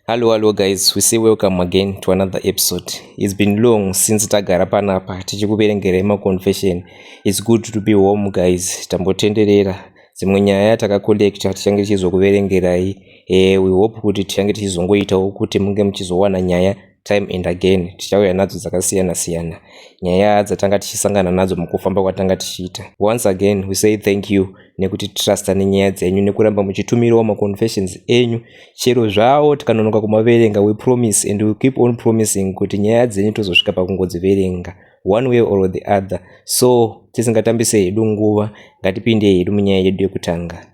Hello, hello guys, we say welcome again to another episode. It's been long since tagara panapa tichikuverengerai maconfession. It's good to be home guys, tambotenderera. Dzimwe nyaya takacollecta tichange tichizokuverengerai. Eh, we hope kuti tichange tichizongoitawo kuti munge muchizowana nyaya time and again tichauya nadzo dzakasiyana siyana nyaya dzatanga tichisangana nadzo mukufamba kwatanga tichiita once again we say thank you nekuti trusta nenyaya dzenyu nekuramba muchitumirawo maconfessions enyu chero zvawo tikanonoka kumaverenga we promise and we keep on promising kuti nyaya dzenyu tozosvika pakungodziverenga one way or the other so tisingatambise hedu nguva ngatipinde hedu munyaya yedu yekutanga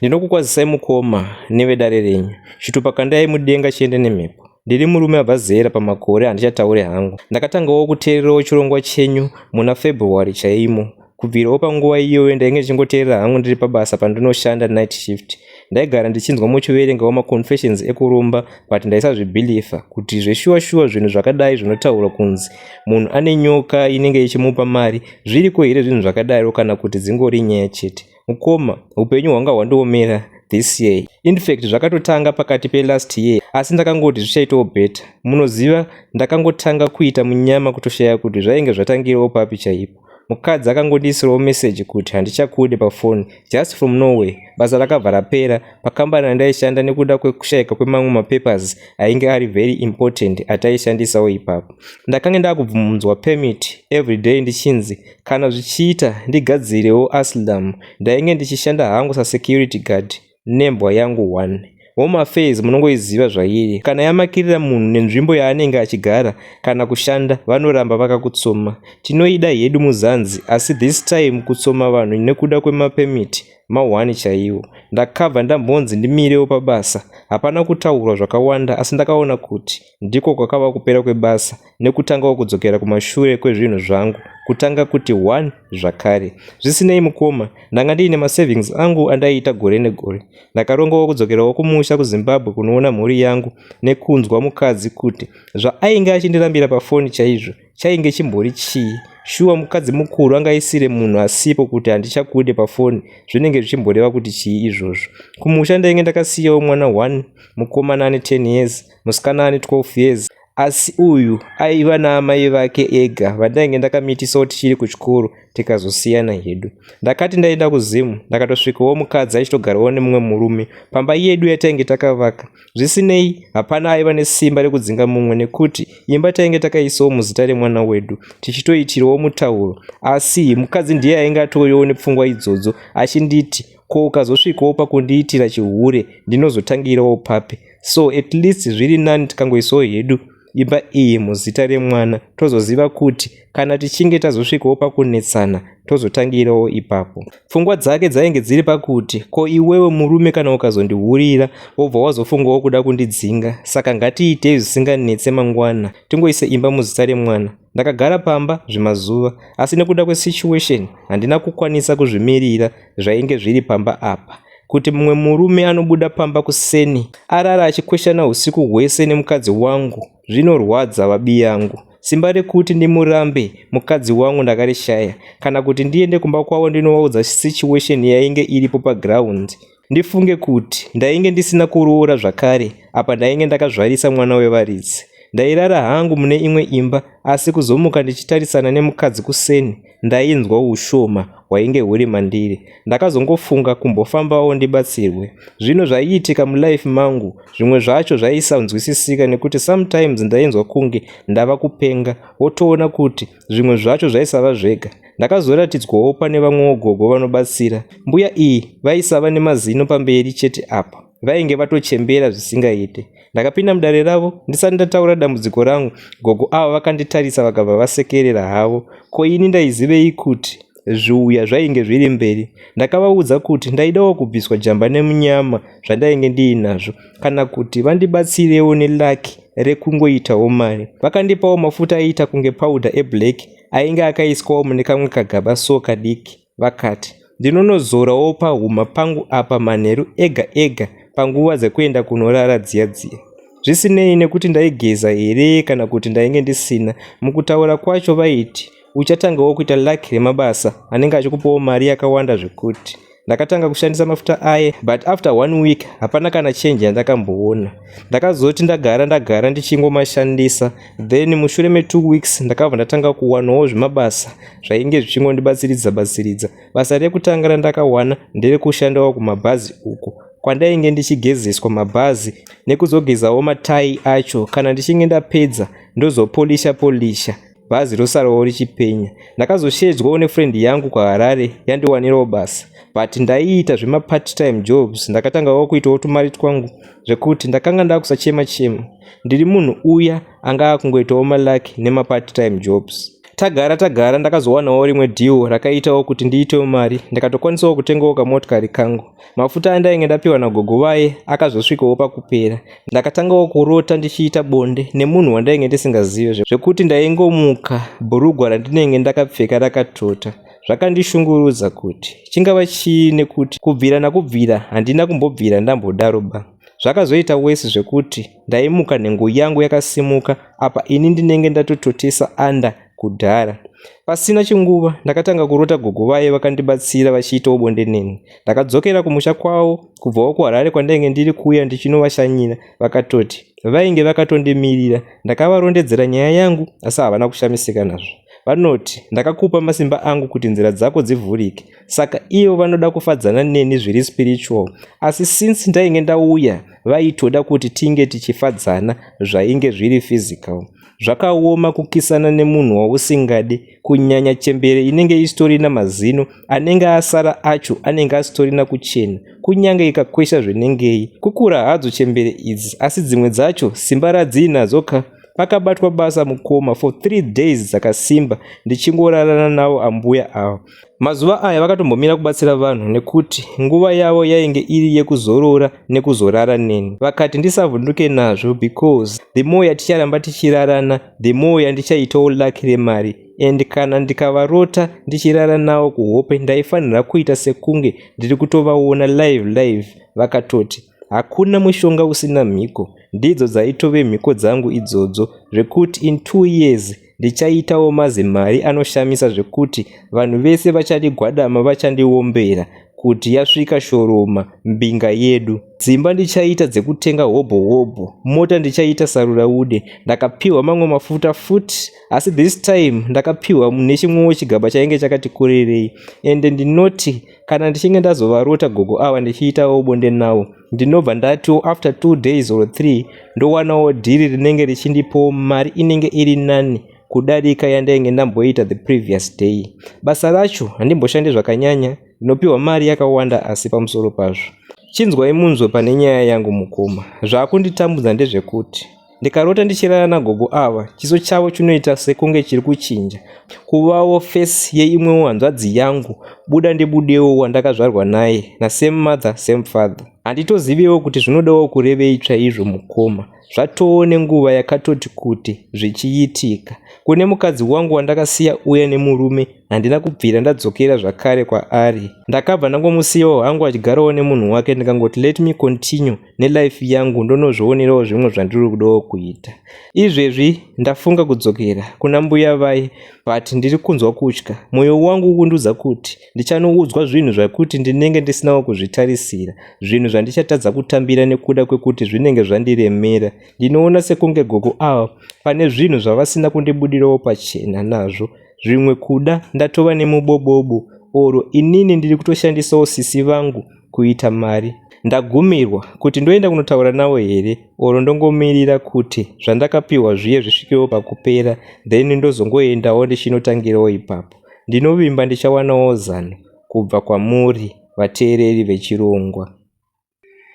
Ndinokukwazisai mukoma nevedare renyu. Chitupa kandai mudenga chiende nemhepo. Ndiri murume abva zera pamakore handichataure hangu. Ndakatangawo kuteererawo chirongwa chenyu muna February chaimo. Kubvirawo panguva iyoyo ndainge ndichingoteerera hangu ndiri pabasa pandinoshanda night shift. Ndaigara ndichinzwa muchiverengawo maconfessions ekuromba but ndaisazvibhilifa kuti zveshuwa shuwa zvinhu zvakadai zvinotaurwa kunzi munhu ane nyoka inenge ichimupa mari zviriko here zvinhu zvakadaro kana kuti dzingori nyaya chete. Mukoma, hupenyu hwanga hwandiomera this year. Infact zvakatotanga pakati pe last year asi ndakangoti zvichaitawo better. Munoziva ndakangotanga kuita munyama kutoshaya kuti zvainge zvatangirawo papi chaipo. Mukadzi akangondiisirawo message kuti handichakude pafoni just from nowhere. Basa rakabva rapera pakambani yandaishanda nekuda kwekushayika kwemamwe mapapers ainge ari very important ataishandisawo ipapo. Ndakange ndakubvunzwa permit everyday ndichinzi Kana zvichiita ndigadzirewo Asylum ndainge ndichishanda hangu sasecurity guard nembwa yangu one. Home affairs munongoiziva zvairi. Kana yamakirira munhu nenzvimbo yaanenge achigara kana kushanda vanoramba vakakutsoma. Tinoida hedu muzanzi asi this time kutsoma vanhu nekuda kwemapermit mahwani chaiwo. Ndakabva ndambonzi ndimirewo pabasa. Hapana kutaurwa zvakawanda asi ndakaona kuti Ndiko kwakava kupera kwebasa nekutangawo kudzokera kumashure kwezvinhu zvangu kutanga kuti one zvakare. Zvisinei mukoma, ndanga ndiine masavings angu andaiita gore negore. Ndakarongawo kudzokerawo kumusha kuZimbabwe kunoona mhuri yangu nekunzwa mukadzi kuti zvaainge achindirambira pafoni chaizvo chainge chimbori chii. Shuwa mukadzi mukuru anga isire munhu asipo kuti handichakude pafoni zvinenge zvichimboreva kuti chii izvozvo. Kumusha ndainge ndakasiyawo mwana one mukomana ane 10 years musikana ane 12 years asi uyu aiva naamai vake ega vandainge ndakamitisa tichiri kuchikoro tikazosiyana hedu ndakati ndaenda kuzimu ndakatosvikawo mukadzi achitogarawo nemumwe murume pamba yedu yatainge takavaka zvisinei hapana aiva nesimba rekudzinga mumwe nekuti imba tainge takaisawo muzita remwana wedu tichitoitirawo mutauro asi mukadzi ndiye ainge atoriwo nepfungwa idzodzo achinditi ko ukazosvikawo pakundiitira chihure ndinozotangirawo papi so at least zviri nani tikangoisawo hedu imba iyi muzita remwana tozoziva kuti kana tichinge tazosvikawo pakunetsana tozotangirawo ipapo pfungwa dzake dzainge dziri pakuti ko iwewe murume kana ukazondihurira wobva wazofungawo kuda kundidzinga saka ngatiitei zvisinganetse mangwana tingoise imba muzita remwana ndakagara pamba zvemazuva asi nekuda kwesituation handina kukwanisa kuzvimirira zvainge zviri pamba apa kuti mumwe murume anobuda pamba kuseni arara achikweshana usiku hwese nemukadzi wangu zvinorwadza vabi yangu simba rekuti ndimurambe mukadzi wangu ndakarishaya kana kuti ndiende kumba kwavo ndinovaudza situation yainge iripo paground ndifunge kuti ndainge ndisina kuroora zvakare apa ndainge ndakazvarisa mwana wevaridzi ndairara hangu mune imwe imba asi kuzomuka ndichitarisana nemukadzi kuseni ndainzwa ushoma hwainge huri mandiri. Ndakazongofunga kumbofambawo ndibatsirwe. Zvinhu zvaiitika mulife mangu zvimwe zvacho zvaisanzwisisika nekuti sometimes ndainzwa kunge ndava kupenga wotoona kuti zvimwe zvacho zvaisava zvega. Ndakazoratidzwawo pane vamwewo gogo vanobatsira. Mbuya iyi vaisava nemazino pamberi chete apa. vainge vatochembera zvisingaite ndakapinda mudare ravo ndisati ndataura dambudziko rangu gogo avo vakanditarisa vakabva vasekerera havo ko ini ndaizivei kuti zviuya zvainge zviri mberi ndakavaudza kuti ndaidawo kubviswa jamba nemunyama zvandainge ndiinazvo kana kuti vandibatsirewo nelaki rekungoitawo mari vakandipawo mafuta aiita kunge paudha eblack ainge akaiswawo mune kamwe kagaba so kadiki Vakati, Ndinonozorawo pahuma pangu apa manheru ega ega panguva dzekuenda kunorara dziya dziya. Zvisinei nekuti ndaigeza here kana kuti ndainge ndisina, mukutaura kwacho vaiti, Uchatangawo kuita luck remabasa anenge achikupawo mari yakawanda zvekuti. Ndakatanga kushandisa mafuta aye but after one week hapana kana change yandakamboona. Ndakazoti ndagara ndagara ndichingomashandisa then mushure metwo weeks ndakabva ndatanga kuwanawo zvemabasa zvainge zvichingondibatsiridza batsiridza basa rekutanga randakawana nderekushandawo kumabhazi uko kwandainge ndichigezeswa mabhazi nekuzogezawo matai acho kana ndichinge ndapedza ndozopolisha polisha bhazi rosarawo richipenya ndakazoshedzwawo nefriend yangu kwaharare yandiwanirawo basa but ndaiita zvemapart time jobs ndakatangawo kuitawo tumari twangu zvekuti ndakanga ndakusachema chema, chema. Ndiri munhu uya anga akungoitawo maluck nema part time jobs. Tagara tagara ndakazowanawo rimwe deal rakaitawo kuti ndiitewo mari ndikatokwanisawo kutengawo kamotikari kangu. Mafuta andainge ndapiwa nagogo vaye akazosvikawo pakupera. Ndakatangawo kurota ndichiita bonde nemunhu wandainge ndisingazive zvekuti ndaingomuka bhurugwa randinenge ndakapfeka rakatota. Zvakandishungurudza kuti chingava chii nekuti kubvira nakubvira handina kumbobvira ndambodaro ba. Zvakazoita worse zvekuti ndaimuka nhengo yangu yakasimuka apa ini ndinenge ndatototesa under kudhara. Pasina chinguva ndakatanga kurota gogo vaye vakandibatsira vachiitawo bonde neni. Ndakadzokera kumusha kwavo kubvawo kuHarare kwandainge ndiri kuuya ndichinovashanyira vakatoti vainge vakatondimirira. Ndakavarondedzera nyaya yangu asi havana kushamisika nazvo. Vanoti ndakakupa masimba angu kuti nzira dzako dzivhurike. saka ivo vanoda kufadzana neni zviri spiritual asi since ndainge ndauya vaitoda kuti tinge tichifadzana zvainge zviri physical zvakaoma kukisana nemunhu wausingadi kunyanya chembere inenge isitorina mazino anenge asara acho anenge asitorina kuchena kunyange ikakwesha zvinengei kukura hadzo chembere idzi asi dzimwe dzacho simba radziinadzo ka pakabatwa basa mukoma for three days dzakasimba ndichingorarana navo ambuya avo Mazuva aya vakatombomira kubatsira vanhu nekuti nguva yavo yainge iri yekuzorora nekuzorara neni. Vakati ndisavhunduke nazvo because the more yaticharamba tichirarana the more yandichaitawo lucky remari and kana ndikavarota ndichirara nawo kuhope ndaifanira kuita sekunge ndiri kutovaona live live vakatoti hakuna mushonga usina mhiko ndidzo dzaitove mhiko dzangu idzodzo zvekuti in two years Ndichaitawo mazimari anoshamisa zvekuti vanhu vese vachadi gwadama vachandiombera kuti yasvika shoroma mbinga yedu. Dzimba ndichaita dzekutenga hobho hobho, mota ndichaita saruraude. Ndakapiwa mamwe mafuta futi asi this time ndakapiwa nechimwewo chigaba chainge chakati kurerei ende ndinoti kana ndichinge ndazovarota gogo ava ndichiitawo bonde nawo ndinobva ndatiwo after two days or three ndowanawo dhiri rinenge richindipowo mari inenge iri nani kudarika yandainge ndamboita the previous day basa racho handimboshande zvakanyanya ndinopiwa mari yakawanda asi pamusoro pazvo chinzwai munzwe pane nyaya yangu mukoma zvaakunditambudza ndezvekuti Ndikarota ndichirara nagogo ava, chiso chavo chinoita sekunge chiri kuchinja, kuvawo face yeimwewo hanzvadzi yangu, buda ndibudewo wandakazvarwa naye, na same mother same father. Handitozivewo kuti zvinodawo kurevei chaizvo mukoma, zvatoo nenguva yakatoti kuti zvichiitika. Kune mukadzi wangu wandakasiya uya nemurume, handina kubvira ndadzokera zvakare kwaari. Ndakabva ndangomusiyawo hangu achigarawo nemunhu wake ndikangoti let me continue nelife yangu ndonozvionerawo zvimwe zvandiri kudawo kuita izvezvi ndafunga kudzokera kuna mbuya vai but ndiri kunzwa kutya mwoyo wangu ukundiudza kuti ndichanoudzwa zvinhu zvakuti ndinenge ndisinawo kuzvitarisira zvinhu zvandichatadza kutambira nekuda kwekuti zvinenge zvandiremera ndinoona sekunge gogo ava pane zvinhu zvavasina kundibudirawo pachena nazvo zvimwe kuda ndatova nemubobobo oro inini ndiri kutoshandisawo sisi vangu kuita mari. Ndagumirwa kuti ndoenda kunotaura navo here or ndongomirira kuti zvandakapihwa zviye zvisvikewo pakupera then ndozongoendawo ndichinotangirawo ipapo. Ndinovimba ndichawanawo zano kubva kwamuri vateereri vechirongwa.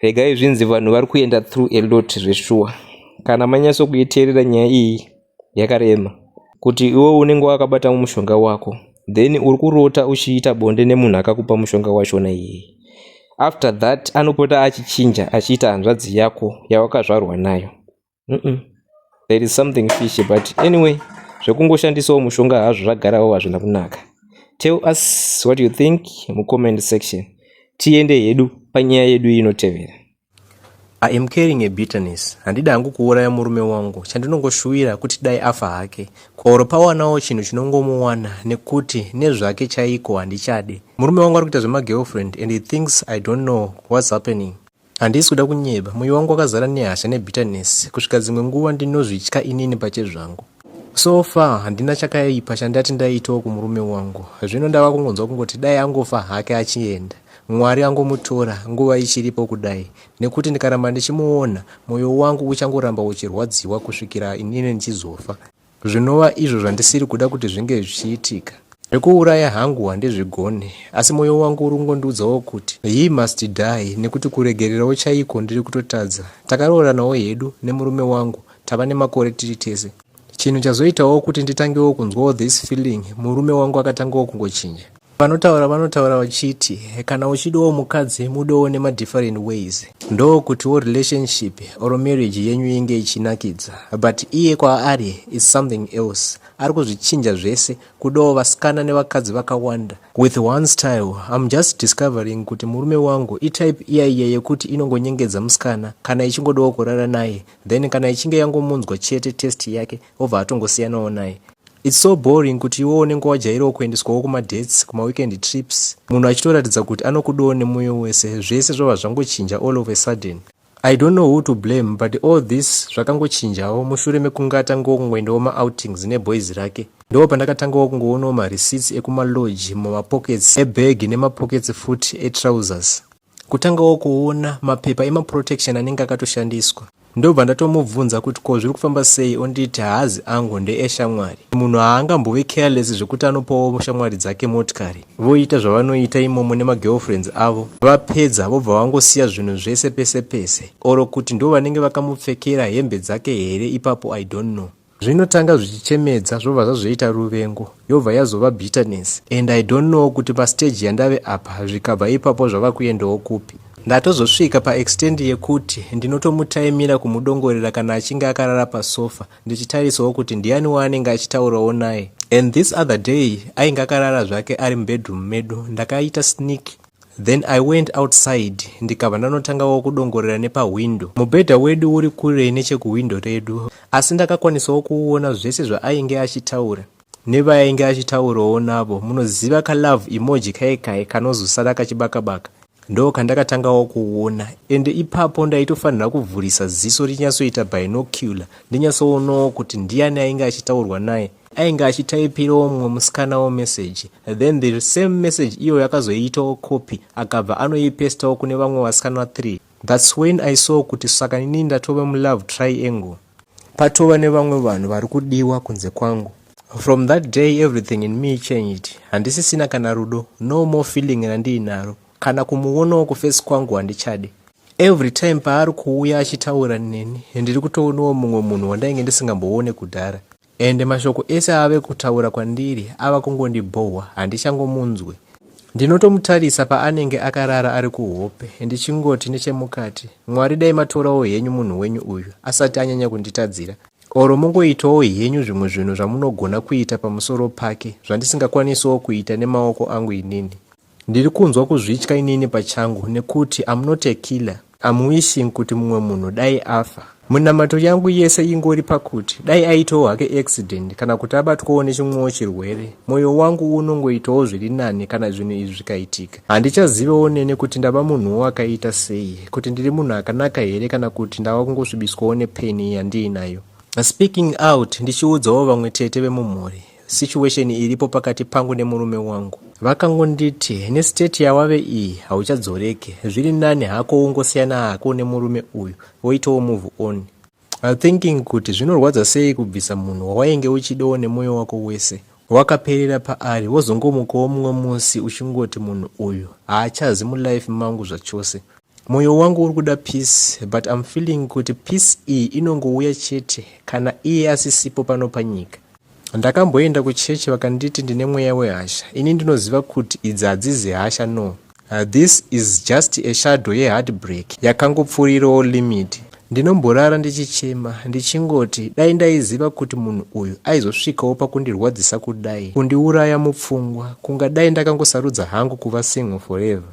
Regai zvinzi vanhu vari kuenda through a lot zveshuwa. Kana manyatsokuiteerera nyaya iyi yakarema kuti iwe unenge wakabata mushonga wako then uri kurota uchiita bonde nemunhu akakupa mushonga wachona iyeye after that anopota achichinja achiita hanzvadzi yako yawakazvarwa nayo mm -mm. there is something fishy but anyway zvekungoshandisawo mushonga hazvo zvagarawo hazvina kunaka tell us what you think mucomment section tiende hedu panyaya yedu inotevera I am carrying a bitterness handidi hangu kuuraya murume wangu chandinongoshuwira kuti dai afa hake kwauro pawanawo chinhu chinongomuwana nekuti nezvake chaiko handichade murume wangu ari kuita zvemagirlfriend and he thinks i don't know what's happening handisi kuda kunyeba mwoyo wangu wakazara nehasha nebitterness kusvika dzimwe nguva ndinozvitya inini pachezvangu so far handina chakaipa chandati ndaitawo kumurume wangu zvino ndava kungonzwa kungoti dai angofa hake achienda Mwari angomutora nguva ichiripo kudai nekuti ndikaramba ndichimuona moyo wangu uchangoramba uchirwadziwa kusvikira inini ndichizofa zvinova izvo zvandisiri kuda kuti zvinge zvichiitika. Zvekuuraya hangu handizvigone asi moyo wangu uri kungondiudzawo kuti he must die nekuti kuregererawo chaiko ndiri kutotadza. Takarooranawo hedu nemurume wangu tava nemakore tiri tese. Chinhu chazoitawo kuti nditangewo kunzwawo this feeling murume wangu akatangawo kungochinja. Vanotaura vanotaura vachiti kana uchidawo mukadzi mudawo nemadifferent ways ndokutiwo relationship or marriage yenyu inge ichinakidza but iye kwaari is something else ari kuzvichinja zvese kudawo vasikana nevakadzi vakawanda with one style im just discovering kuti murume wangu itype iya iya yekuti inongonyengedza musikana kana ichingodawo kurara naye then kana ichinge yangomunzwa chete test yake obva atongosiyanawo naye its so boring kuti iwo unenge wajairawo kuendeswawo kumadates kumaweekend trips munhu achitoratidza kuti anokudawo nemoyo wese zvese zvava zvangochinja all of a sudden i don't know who to blame but all this zvakangochinjawo mushure mekunge atangawo kungoendawo maoutings neboys rake ndoo pandakatangawo kungoonawo marecits ekumaloge mumapockets ebag nemapockets futi etrousers kutangawo kuona mapepa emaprotection anenge akatoshandiswa ndobva ndatomubvunza kuti ko zviri kufamba sei onditi haazi angu ndeeshamwari munhu haangambove careless zvekuti anopawo shamwari dzake motikari voita zvavanoita imomo nemagirlfriends avo vapedza vobva vangosiya zvinhu zvese pese pese oro kuti ndo vanenge vakamupfekera hembe dzake here ipapo i don't know Zvinotanga zvichichemedza zvobva zvazoita ruvengo yobva yazova bitterness and I don't know kuti pa stage yandave apa zvikabva ipapo zvava kuendawo kupi. Ndatozosvika pa extend yekuti ndinotomutaimira kumudongorera kana achinge akarara pa sofa ndichitarisawo kuti ndiyani waanenge achitaurawo naye and this other day ainge akarara zvake ari mubedroom medu ndakaita sneak Then I went outside ndikabva ndanotangawo kudongorera nepahwindo. Mubhedha wedu uri kure nechekuhwindo redu asi ndakakwanisawo kuona zvese zvaainge achitaura nevaainge achitaurawo navo. Munoziva kalove emoji kaye kaye kanozosara kachibakabaka ndo kandakatangawo kuona ende ipapo ndaitofanira kuvhurisa ziso rinyatsoita binocular ndinyatsoonawo kuti ndiani ainge achitaurwa naye Ainge achitaipirawo mumwe musikanawo message then the same message iyo yakazoiitawo copy akabva anoipestawo kune vamwe vasikana 3 thats when i saw kuti saka nini ndatova mulove triangle patova nevamwe vanhu vari kudiwa kunze kwangu from that day everything in me changed handisisina kana rudo no more feeling randiinaro kana kumuonawo kufesi kwangu handichadi every time paari kuuya achitaura neni ndiri kutoonawo mumwe munhu wandainge ndisingamboone kudhara Ende mashoko ese aave kutaura kwandiri ava kungondibhohwa handichangomunzwe. Ndinotomutarisa paanenge akarara ari kuhope ndichingoti nechemukati Mwari dai matorawo henyu munhu wenyu uyu asati anyanya kunditadzira or mongoitawo henyu zvimwe zvinhu zvamunogona kuita pamusoro pake zvandisingakwanisawo kuita nemaoko angu inini. Ndiri kunzwa kuzvitya inini pachangu nekuti I'm not a killer. I'm wishing kuti mumwe munhu dai afa. Munamato yangu yese ingori pakuti dai aitawo hake accident kana kuti abatwawo nechimwewo chirwere, mwoyo wangu unongoitawo zviri nani kana zvinhu izvi zvikaitika. Handichazivewo nene kuti ndava munhuwo akaita sei, kuti ndiri munhu akanaka here kana kuti ndava kungosvibiswawo nepain yandiinayo. Speaking out ndichiudzawo vamwe tete vemumhuri. situation iripo pakati pangu nemurume wangu. Vakangonditi nestate yawave iyi hauchadzoreke, zviri nani hako wongosiyana hako nemurume uyu woitawo move on. I thinking kuti zvinorwadza sei kubvisa munhu wawainge uchidawo nemoyo wako wese wakaperera paari wozongomukawo mumwe musi uchingoti munhu uyu haachazi mulife mangu zvachose. Moyo wangu uri kuda peace but I'm feeling kuti peace iyi inongouya chete kana iye asisipo pano panyika. Ndakamboenda kuchechi vakanditi ndine mweya wehasha. Ini ndinoziva kuti idzi hadzizi hasha no. Uh, this is just a shadow yeheartbreak yakangopfuurirawo limit. Ndinomborara ndichichema ndichingoti dai ndaiziva kuti munhu uyu aizosvikawo pakundirwadzisa kudai, kundiuraya mupfungwa. Kungadai ndakangosarudza hangu kuva single forever.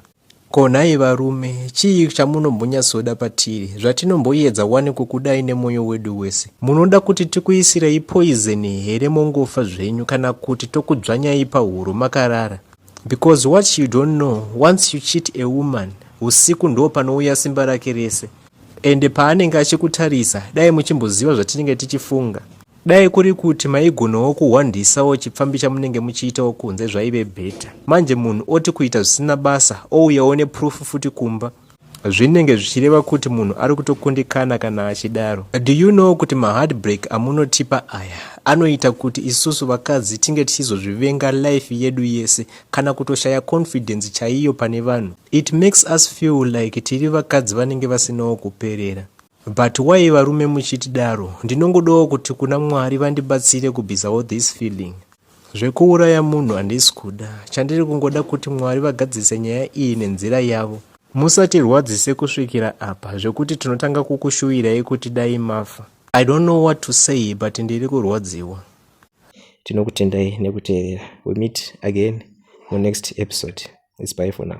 Ko nhai varume, chii chamunombonyatsoda patiri zvatinomboyedza wani kukudai nemwoyo wedu wese? Munoda kuti tikuisirei poizeni here mongofa zvenyu kana kuti tokudzvanyai pahuro makarara? Because what you don't know, once you cheat a woman, usiku ndoo panouya simba rake rese. Ende paanenge achikutarisa, dai muchimboziva zvatinenge tichifunga. Dai kuri kuti maigonawo kuhwandisawo chipfambi chamunenge muchiitawo kunze zvaive better. Manje munhu oti kuita zvisina basa ouyawo neproof futi kumba. Zvinenge zvichireva kuti munhu ari kutokundikana kana achidaro. Do you know kuti maheartbreak amunotipa aya anoita kuti isusu vakadzi tinge tichizozvivenga life yedu yese kana kutoshaya confidence chaiyo pane vanhu. It makes us feel like tiri vakadzi vanenge vasinawo kuperera. But why varume muchitidaro. Ndinongodawo kuti kuna Mwari vandibatsire kubvisawo this feeling. Zvekuuraya munhu handisi kuda. Chandiri kungoda kuti Mwari vagadzise nyaya iyi nenzira yavo. Musatirwadzise kusvikira apa zvekuti tinotanga kukushuvirai kuti dai mafa. I don't know what to say but ndiri kurwadziwa. Tinokutendai nekuteerera. We meet again mu next episode. It's bye for now.